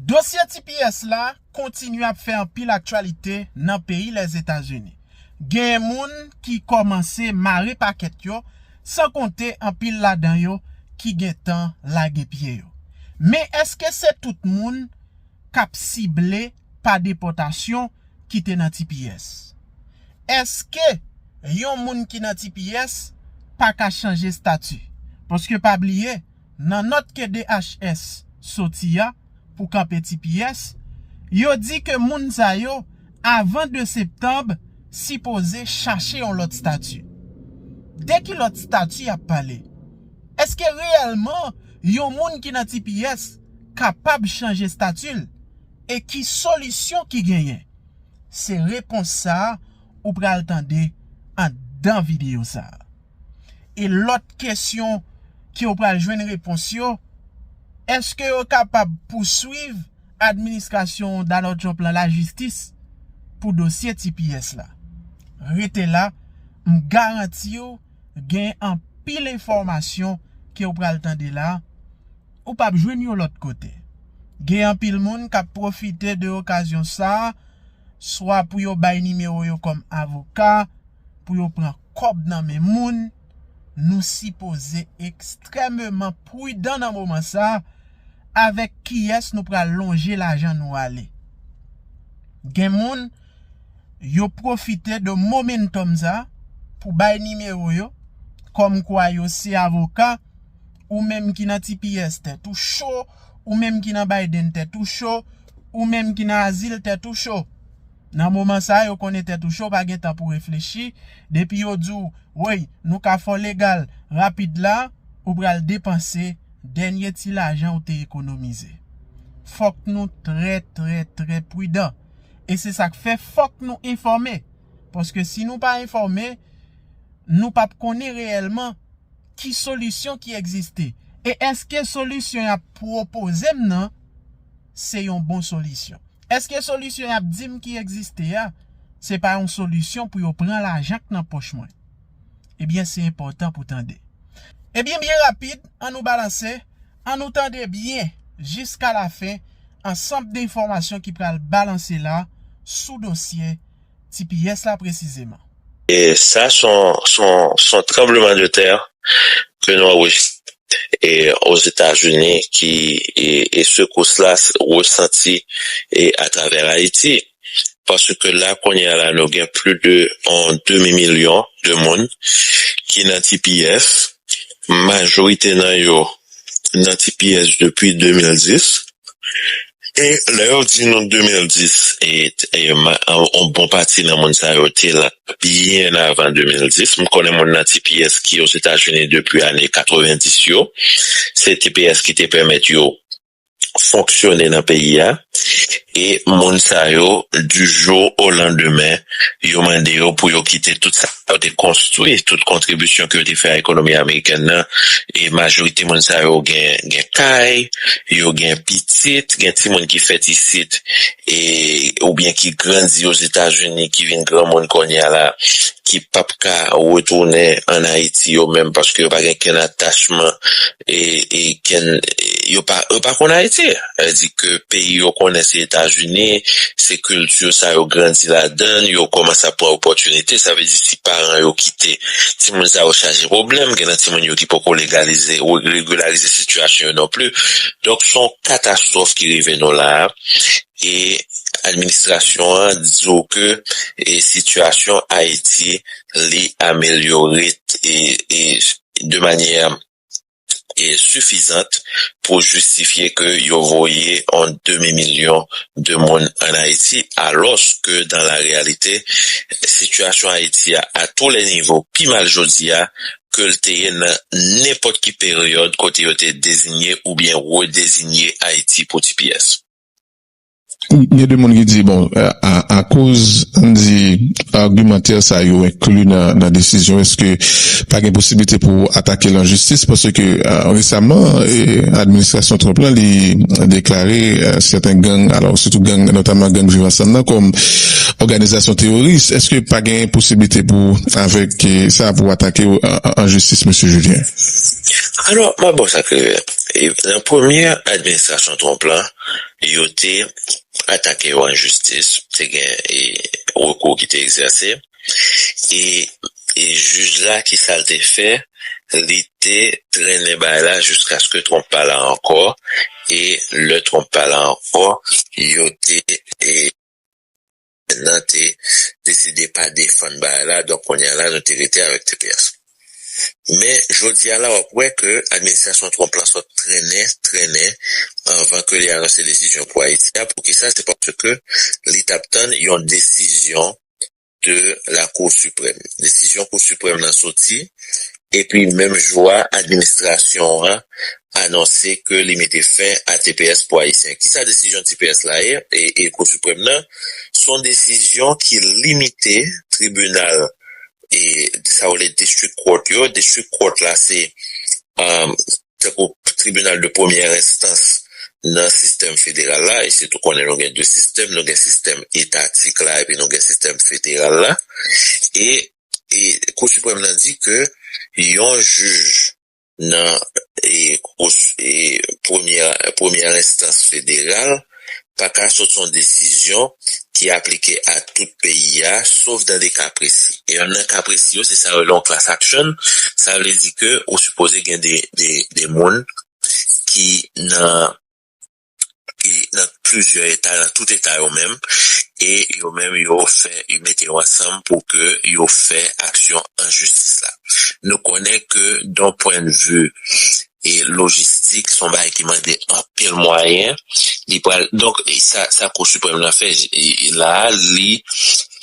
Dosye tps la kontinye ap fè anpil aktyalite nan peyi Lèzetazini. Genyen moun ki kòmanse mare pakèt yo, san konte anpil ladan yo ki gentan lage pye yo. Men èske se tout moun k ap sible pa depòtasyon ki te nan tps? Èske yon moun ki nan tps pa ka chanje stati? Paske pa bliye, Nan nòt ke DHS soti a pou kanpe tps, yo di ke moun sa yo avan 2 septanb sipoze chache yon lòt stati. De ki lòt stati yap pale? Eske reyèlman yon moun ki nan tps kapab chanje stati l? E ki solisyon ki genyen? Se repons sa ou pral tande anndan videyo sa. e lòt kesyon ke yo pral jwenn repons yo, eske yo kapab pouswiv administrasyon Donald Trump lan lajistis pou dosye tps la? Rete la, m garanti w gen anpil enfòmasyon ke w pral tande la, ou pap jwenn yo lòt kote. Gen anpil moun kap pwofite de okazyon sa, swa pou yo bay nimewo yo kòm avoka, pou yo pran. kòb nan men moun, nou sipoze ekstrèmeman prudan nan moman sa avèk kiyès nou pral lonje lajan nou ale. Gen moun, yo pwofite de momentum sa pou bay nimewo yo, kòm kwa yo se avoka, ou menm ki nan tps tèt ou cho, ou menm ki nan Biden tèt ou cho, ou menm ki nan azil tèt ou cho. Nan moman sa yo konnen tèt ou cho pa gen tan pou reflechi, depi yo di w woy nou ka fè w legal rapid la ou pral depanse dènye ti lajan ou te ekonomize. Fòk nou trè trè trè pridan e se sak fè fòk nou enfòme paske si nou pa enfòme nou pap konnen reyèlman ki solisyon ki egziste e èske solisyon y ap pwopoze m nan se yon bon solisyon. Eske solisyon yap dim ki egziste a se pa yon solisyon pou yo pran lajan k nan pòch mwen? Ebyen se enpòtan pou tande. Ebyen byen rapid an nou balanse, an nou tande byen jiska lafen ansanb de enfòmasyon ki pral balanse la sou dosye tps la presizeman. E sa son tranbleman de tè ke nou anrejistre ozetazini ki e sekous la resanti atravè Ayiti. Paske la kounye a la nou gen pli de yon demi milyon de moun ki nan tps, majorite nan yo nan tps depi 2010. E lè yo di nou 2010 e yon bon pati nan moun sa yo te la byen avan 2010, m konnen moun nan tps ki ozetazini depi ane 90 yo, se tps ki te pèmèt yo fonksyone nan peyi a, e moun sa yo di jou o landemen yo mande yo pou yo kite tout sa. Yo te konstwi tout kontribisyon ke yo te fè a ekonomi amerikèn nan e majorite moun sa yo gen kay, yo gen pitit, gen timoun ki fèt isit e oubyen ki grandi Ozetazini ki vin granmoun kounye a la ki pap ka retounen an Ayiti yo menm paske yo pa gen kenn atachman e ken yo pa yo pa konn ayiti sa di ke peyi yo konnen se etazini se kilti sa yo grandi ladann yo komanse ap pran opotinite sa vle di si paran yo kite ti moun sa yo chaje pwoblèm gen nan ti moun yo ki poko legalize ou regularize sitiyasyon yo non pli donk son katastwòf ki rive nou la e administrasyon an di ou ke e sitiyasyon ayiti li amelyore e e de manyè sifizant pou jistifye ke yo voye yon demi milyon de moun an Ayiti alòs ke dan la reyalite sitiyasyon Ayiti a a tou lè nivo pi mal jodi a ke l te ye nan nenpòt ki peryòd kote yo te dezinye oubyen redezinye Ayiti pou tipiyès. Gen de moun ki di, bon, akoz ann di argumantè sa yo enkli nan desizyon, eske pa gen posiblite pou atake l an jistis? Paske resaman, administrasyon Trump la li deklare sèten gang, alò sitou gang, notaman gang Viv Ansanm nan kòm òganizasyon teworis. Eske pa gen posiblite pou avèk sa pou atake yo an jistis, Mesye Julien? Alò, m ap ba w sa k rive. Nan premye administrasyon Trump la, Yo te atake yo an jistis, te gen rekou ki te egzèse e jij la ki sa l te fè, li te trennen bagay la jiskaske Trump pa la ankò e lè Trump pa la ankò yo te. nan te deside pa defann bagay la donk kounya la nou te rete avèk tps men jodia la wap wè ke administrasyon Trump la sòt trennen trennen anvan ke li anonse desizyon pou Ayiti a poukisa se paske li tap tann yon desizyon de lakou siprèm desizyon kou siprèm nan soti Epi menm jou a administrasyon an anonse ke li mete fen a tps pou Ayisyen. Kisa desizyon tps la ye e Kou Siprèm nan? S on desizyon ki limite tribinal e sa yo rele district court yo. District court la se tankou tribinal de premyè enstans nan sistèm federal la. E sitou konnen nou gen 2 sistèm, nou gen sistèm etatik la epi nou gen sistèm federal la. E Kou Siprèm nan di ke yon jij nan premyè enstans federal pa ka sot sou yon desizyon ki aplike a tout peyi a, sof dan de ka presi. E nan ka presi yo, se sa yo rele yon class action, sa vle di ke ou sipoze gen de moun ki nan nan plizyè eta nan tout eta yo menm e yo menm yo fè yo mete yo ansanm pou ke yo fè aksyon an jistis la nou konnen ke don pwennvi e lojistik son bagay ki mande anpil mwayen li pral donk sa sa kou siprèm nan fè la li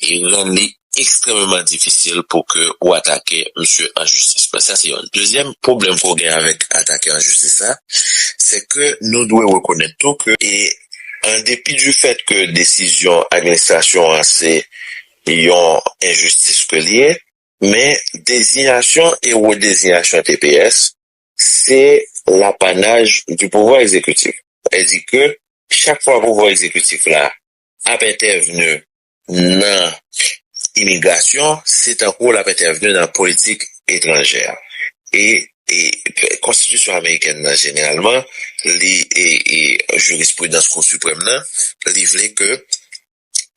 e rann li. ekstrèmeman difisil pou ke ou atake misye an jistis. Mwen sa se yonn. Dezyèm pwoblèm ke w gen avèk atake an jistis la, se ke nou dwe rekonèt tou ke e an depi di fèt ke desizyon administrasyon an se yon enjistis ke li ye, men dezinyasyon e redezinyasyon tps se lapanaj di pouvwa ekzekitif. Sa vle di ke chak fwa pouvwa ekzekitif la ap entèvni nan imigrasyon, se tankou l ap entèvni nan politik etranjè. E konstitisyon amerikèn nan jeneralman, li e jirispridans Kou Siprèm nan, li vle ke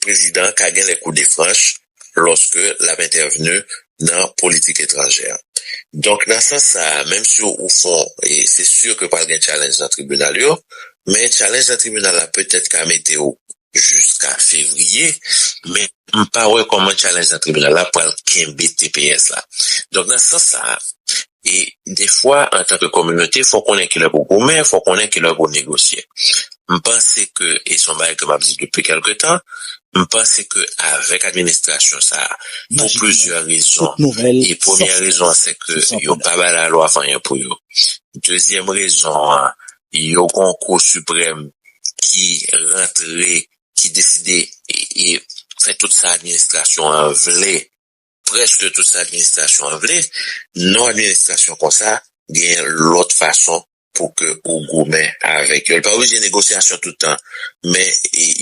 prezidan an ka gen lè kou de franch lòske l ap entèvni nan politik etranjè. Donk nan sans sa a, menm si ou fon, se si ke pral gen tchalenj nan tribinal yo, men tchalenj nan tribinal la petèt ka mete ou jiska fevriye men m pa wè kòman challenge nan tribinal la pral kenbe tps la donk nan sans sa e defwa antan ke kominote fò konnen kilè pou goumen fò konnen kilè pou negosye m panse ke e son bagay ke m ap di depi kèlke tan m panse ke avèk administrasyon sa pou plizyè rezon e premyè rezon an se ke yo pa bay lalwa fanyen pou yo dezyèm rezon an Yon konkou siprèm ki rantre, ki deside fè tout sa administrasyon an vle, prèske tout sa administrasyon an vle. Non administrasyon konsa gen lòt fason pou ke ou goumen avèk yo. Li pa oblije negosyasyon tout tan, men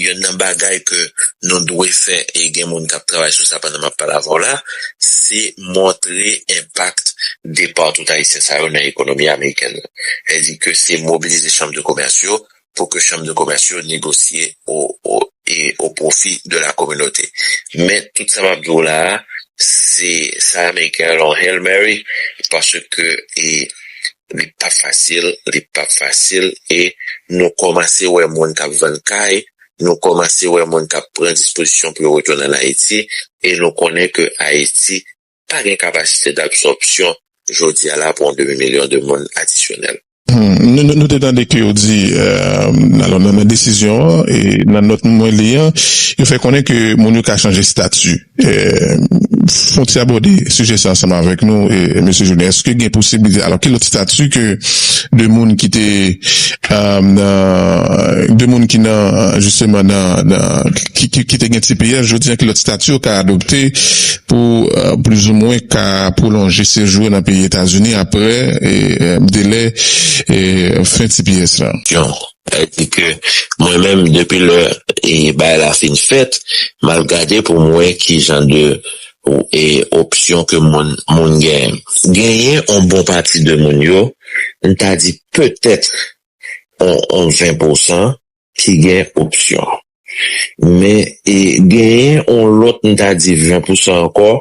yonn nan bagay ke nou dwe fè, e gen moun k ap travay sou sa pandan m ap pale avè w la, se montre enpak depart tout Ayisyen sa yo nan ekonomi amerikèn nan. Lè di ke se mobilize chanm de komès yo pou ke chanm de komès yo negosye o pwofi de la kominote. Men tout sa map di w la a, se sa ameriken rele yon Hail Mary paske li pap fasil, li pap fasil e nou kòmanse wè moun kap vann kay, nou kòmanse wè moun kap pran dispozisyon pou yo retounen an Ayiti e nou konnen ke Ayiti pa gen kapasite d'absòpsyon jodi a la pou yon demi milyon de moun adisyonèl. Nou te tande ke yo di, alò nan desizyon an, nan nòt mwen li an, yo fè konnen ke moun yo ka chanje stati. Fon ti abòde sijè sa ansanm avèk nou Mesye Julien, èske gen posiblite, alò ki lòt stati ke de moun ki te nan, de moun ki nan jisteman nan, ki te gen tps jodi an ki lòt stati yo ka adopte pou plizoumwen ka pwolonje sejou yo nan peyi Etazini apre delè fen tps la. Yon. Sa di ke mwen menm depi lè bagay la fin fèt, m al gade pou m wè ki jan de opsyon ke moun genyen. Genyen yon bon pati de moun yo, m ta di petèt yon 20 pousan, ki gen opsyon. Men genyen yon lòt m ta di 20 pousan ankò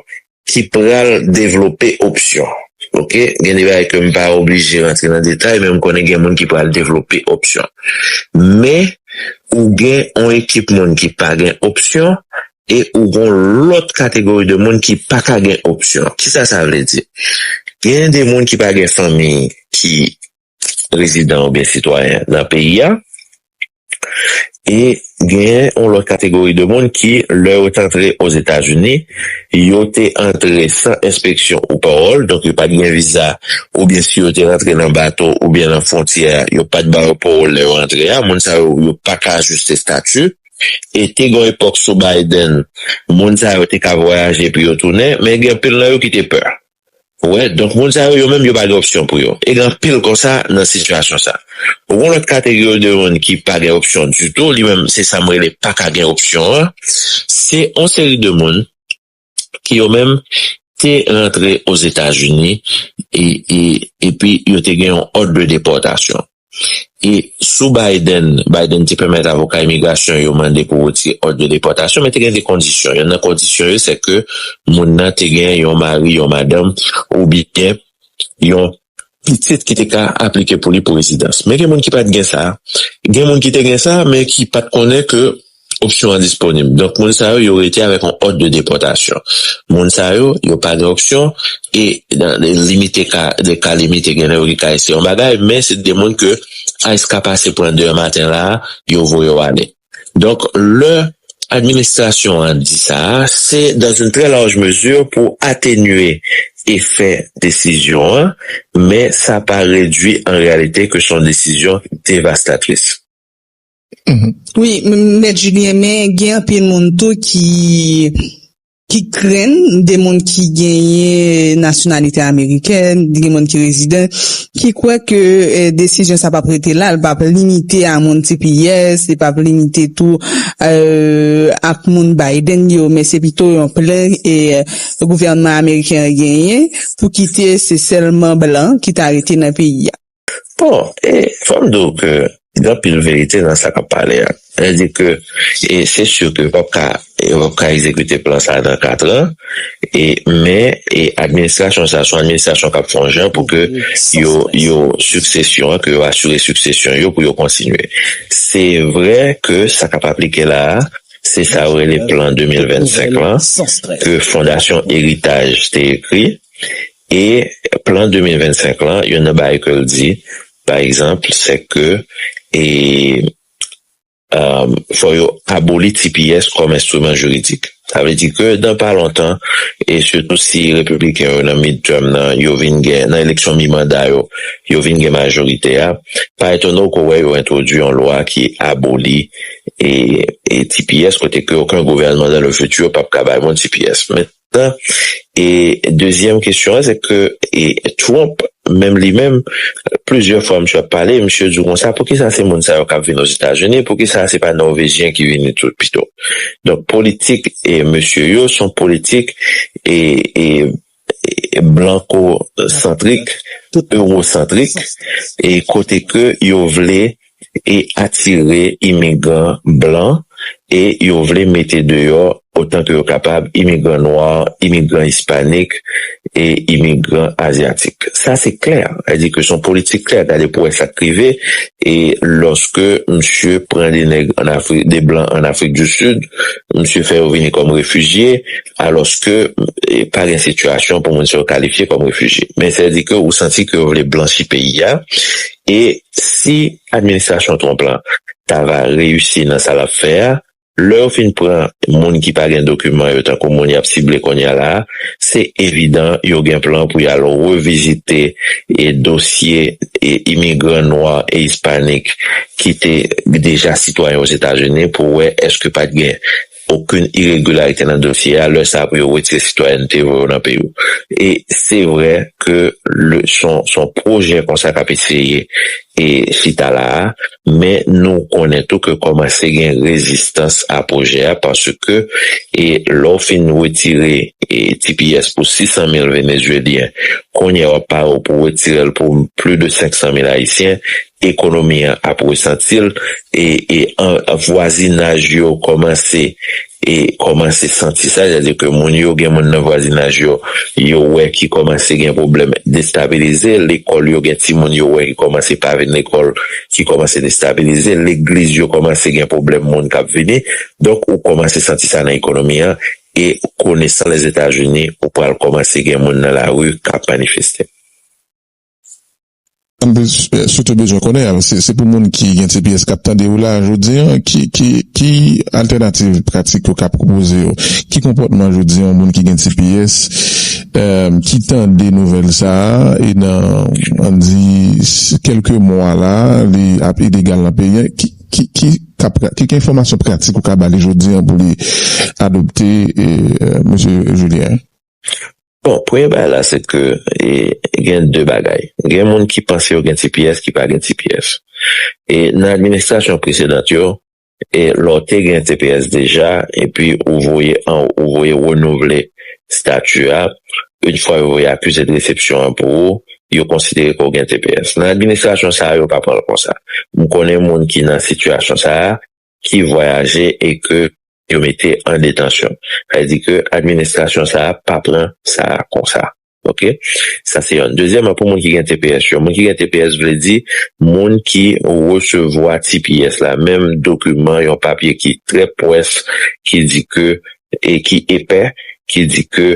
ki pral devlope opsyon. Ok, gen de bagay ke m pa oblije rantre nan detay men m konnen gen moun ki pral devlope opsyon. Men ou gen yon ekip moun ki pa gen opsyon e ou gen yon lòt kategori de moun ki pa ka gen opsyon. Kisa sa vle di? Gen de moun ki pa gen fanmi ki rezidan oubyen sitwayen nan peyi a, e genyen yon lòt kategori de moun ki lè yo te antre Ozetazini, yo te antre san enspeksyon ou pawòl, donk yo pat gen viza, oubyen si yo te rantre nan bato oubyen nan fwontyè a, yo pat ba yo pawòl lè yo antre a, moun sa yo, yo pa ka ajiste stati, e te gen yon epòk sou Biden, moun sa yo te ka vwayaje epi yo tounen, men gen anpil nan yo ki te pè. Ou wè, donk moun sa yo, yo menm yo pa gen opsyon pou yo. E gen anpil konsa nan sitiyasyon sa. Ou gen lòt kategori de moun ki pa gen opsyon ditou, li menm se sa m rele pa ka gen opsyon an. Se yon seri de moun ki yo menm te rantre Ozetazini epi yo te gen yon òd de depòtasyon. E sou Biden, Biden te pèmèt avoka imigrasyon yo mande pou retire òd de depòtasyon, men te gen de kondisyon. Yonn nan kondisyon yo se ke moun nan te gen yon mari, yon madanm oubyen yon pitit ki te ka aplike pou li pou rezidans. Men gen moun ki pa t gen sa. Gen moun ki te gen sa men ki pa t konnen ke Opsyon an disponib. Donk moun sa yo, yo rete avèk yon òd de depòtasyon. Moun sa yo, yo pa gen opsyon e nan limite ka, nan ka limite gen lè yo ka eseye yon bagay men se de moun ke ice ka pase pran demen maten la a, yo voye w ale. Donk lè administrasyon an di sa a, se dans une très large mesure pou atenye efè desizyon an men sa pa redwi an reyalite ke son desizyon devastatris. Wi mèt Julien men gen anpil moun tou ki krenn de moun ki genyen nasyonalite amerikèn, gen moun ki rezidan ki kwè ke desizyon sa pap rete la, li pap limite a moun tps, li pap limite tou ak moun Biden yo men se pito yon plan gouvènman ameriken an genyen pou kite se sèlman blan ki ta rete nan peyi a. Bon, e fò m di w ke gen anpil verite nan sa k ap pale a. Sa di ke e se si ke yo p ap ka yo p ap ka egzekite plan sa a nan katran e men e administrasyon sa a se yon administrasyon k ap fè yon jan pou ke yo yo siksesyon an ke yo asire siksesyon yo pou yo kontinye. Se vre ke sa k ap aplike la a se sa yo rele plan 2025 lan ke fondasyon eritaj te ekri E plan 2025 lan, youn nan bagay ke l di, pa egzanp, se ke e fò yo aboli tps kòm enstriman jiridik. Sa vle di ke nan pa lontan, e sitou si Repibliken yo nan midterm nan, yo vin gen, nan eleksyon mi-manda yo, yo vin gen majorite a, pa etone w ke w wè yo entwodui yon lwa ki aboli e tps kote ke oken gouvènman dan le fiti pa p ka bay moun tps. Men. E dezyèm kesyon an se ke Trump menm li menm plizyè fwa misye ap pale, misye di w konsa poukisa se moun sa yo k ap vin Ozetazini, poukisa se pa Nòvejyen ki vini tou pito. Donk politik mesye yo son politik blankosantrik, ewosantrik e kote ke yo vle e atire imigran blan e yo vle mete deyò otan ke yo kapab imigran nwa, imigran ispanik e imigran azyatik. Sa se klè, sa di ke son politik klè, gade pou wè sak rive e loske misye pran de nèg an Afri, de blan an Afrik di Sid, misye fè yo vini kom refijye aloske pa gen sitiyasyon pou moun sa yo kalifye kom refijye. Men sa di ke ou santi ke yo vle blanchi peyi a E si administrasyon Trump la ta va reyisi nan sa l ap fè a, lè yo fin pran moun ki pa gen dokiman yo tankou moun y ap sible kounye a la a, se evidan yo gen plan pou y al revizite dosye imigran nwa e ispanik ki te deja sitwayen Ozetazini pou wè èske pa t gen okenn iregilarite nan dosye a lè sa pou yo retire sitwayènte yo nan peyi w e se vrè ke le son son pwojè konsa kap eseye e chita la a men nou konnen tou ke kòmanse gen rezistans a pwojè a paske e lè w fin retire e tps pou 600 mil venezuelyen kounye a wap pare w pou w retire l pou pli de 500 mil ayisyen ekonomi an ap resanti l e e an vwazinaj yo kòmanse e kòmanse santi sa sètadi ke moun yo gen moun nan vwazinaj yo yo wè ki kòmanse gen pwoblèm destabilize lekòl yo gen timoun yo wè ki kòmanse pa vin lekòl ki kòmanse destabilize legliz yo kòmanse gen pwoblèm moun k ap vini donk ou kòmanse santi sa nan ekonomi an e konesan Lèzetazini ou pral kòmanse gen moun nan lari k ap manifeste. M sitou bezwen konnen an, se pou moun ki gen tps k ap tande yo la jodi an, ki altènativ pratik yo ka pwopoze yo? Ki konpòtman jodi an yon moun ki gen tps ki tande nouvèl sa a e nan an di kèlke mwa la li ap ilegal nan peyi an, ki enfòmasyon pratik ou ka ba li jodi an pou li adopte, Mesye Julien? Bon, premye bagay la se ke gen de bagay. Gen moun ki panse yo gen tps ki pa gen tps. E nan administrasyon presedant yo, e lè w te gen tps deja, epi ou voye an ou voye renouvle stati a, in fwa yo voye akize de resepsyon an pou ou, yo konsidere ke w gen tps. Nan administrasyon sa a, yo pa pran l konsa. M konnen moun ki nan sitiyasyon sa a, ki vwayaje e ke yo mete an detansyon. Sa vle di ke administrasyon sa a pa pran sa a konsa. Ok. Sa se yon. Dezyèman pou moun ki gen tps yo. Moun ki gen tps vle di moun ki resevwa tps la. Menm dokiman yon papye ki trè pwès ki di ke e ki epè ki di ke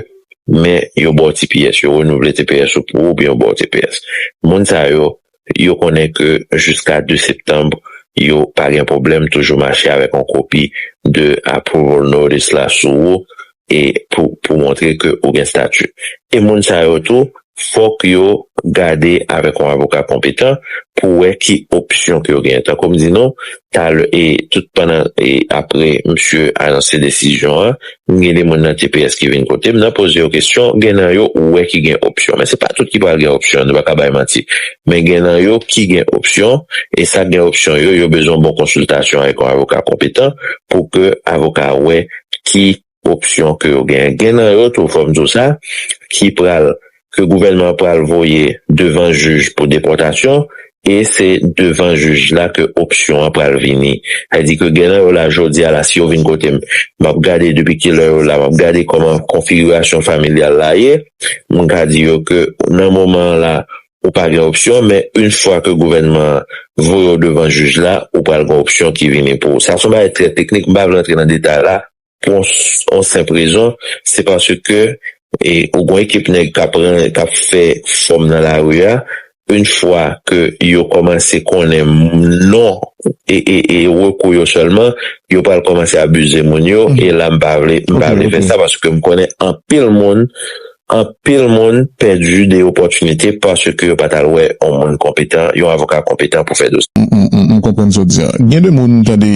men yo ba w tps. Yo renouvle tps ou pou ou oubyen yo ba w tps. Moun sa yo yo konnen ke jiska 2 septanb yo pa gen pwoblèm toujou mache avèk yon kopi de approval notice la sou ou e pou pou montre ke ou gen stati. E moun sa yo tou fòk yo gade avèk yon avoka konpetan pou wè ki opsyon ke yo genyen. Tankou m di nou talè e tout pandan e apre msye anonse desizyon an M gen de moun nan tps ki vin kote m nan poze yo kesyon, gen nan yo ou wè ki gen opsyon men se pa tout ki pral gen opsyon nou pa ka bay manti men gen nan yo ki gen opsyon e sa gen opsyon yo yo bezwen bon konsiltasyon avèk yon avoka konpetan pou ke avoka a wè ki opsyon ke yo gen gen nan yo tou fò m di w sa ki pral ke gouvènman an pral voye devan jij pou depòtasyon e se devan jij la ke opsyon an pral vini. Sa di ke gen nan yo la jodi a la si yo vin kote m, m ap gade depi ki lè yo la, m ap gade kòman konfigirasyon familyal la ye, m ka di yo ke nan moman an la ou pa gen opsyon men yn fwa ke gouvènman an voye w devan jij la ou pral gen opsyon ki vini pou ou. Sa son bagay trè teknik m pa vle antre nan detay la. Pou yon senp rezon, se paske ou gon ekip nèg k ap ran, k ap fè fòm nan lari a, yn fwa ke yo kòmanse konnen non e rekou yo sèlman, yo pral kòmanse abize moun yo, e la m pa vle, m pa vle fè sa paske m konnen anpil moun Anpil moun pèdi de opòtinite paske yo pa t al wè yon moun konpetan, yon avoka konpetan pou fè dosye. M konprann sa w di an. Gen de moun, tande,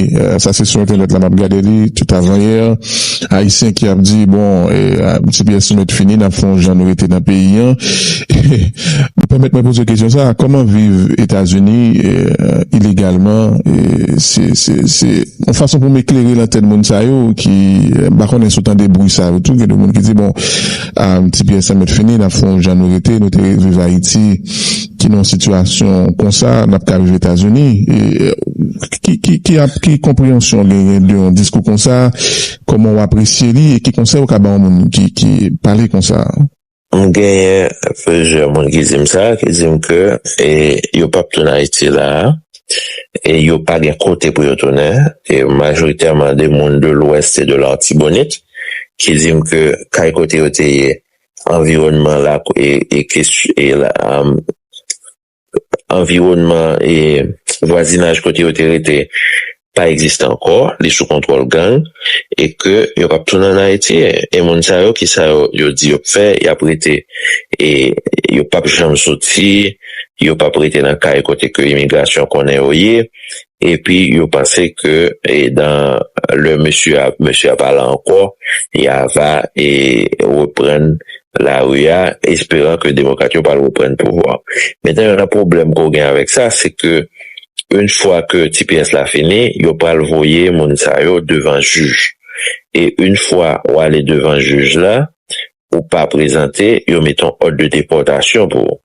sa se sou entènèt la m ap gade li, tout avanyè, Ayisyen ki ap di, bon, tipiyès nou mèt fini, n ap fè yon jan nou rete nan peyi an. Pèmèt mwen poze w kesyon sa a, kòman viv Etazini ilegalman se. Yon fason pou m eklere lantèn moun sa yo ki, m pa konnen si w tande bri sa yo tou, gen de moun ki di bon, Ti Pyè sa mèt fini, n ap fè yon jan nou rete, nou te viv Ayiti ki nan yon sitiyasyon konsa, n ap ka viv Etazini. Ki konpreyansyon w genyen de yon diskou konsa? Kòman w apresye li? E ki konsèy ou ka ba yon moun ki pale konsa? M genyen plizyè moun ki di m sa, ki di m ke yo pap tounen Ayiti la a, e yo pa gen kote pou yo tounen, e majoritèman de moun de lwès e de L'artibonite, ki di m ke kay kote yo te ye, anviwònman la e kes e anviwònman e vwazinaj kote yo te rete pa egziste ankò, li sou kontwòl gang e ke yo pap tounen an Ayiti. E moun sa yo ki sa yo di yo p fè, y ap rete e yo pap janm soti, yo pap rete nan kay kote ke imigrasyon konnen yo ye. epi yo panse ke e dan lè mesye a mesye a pala ankò ya va e reprann la ri a esperan ke demokrat yo pral reprann pouvwa men tan yo nan pwoblèm ke w gen avèk sa se ke yn fwa ke ti pyès la fini yo pral voye moun sa yo devan jij e yn fwa w ale devan jij la ou pa prezante yo met on òd de depòtasyon pou ou.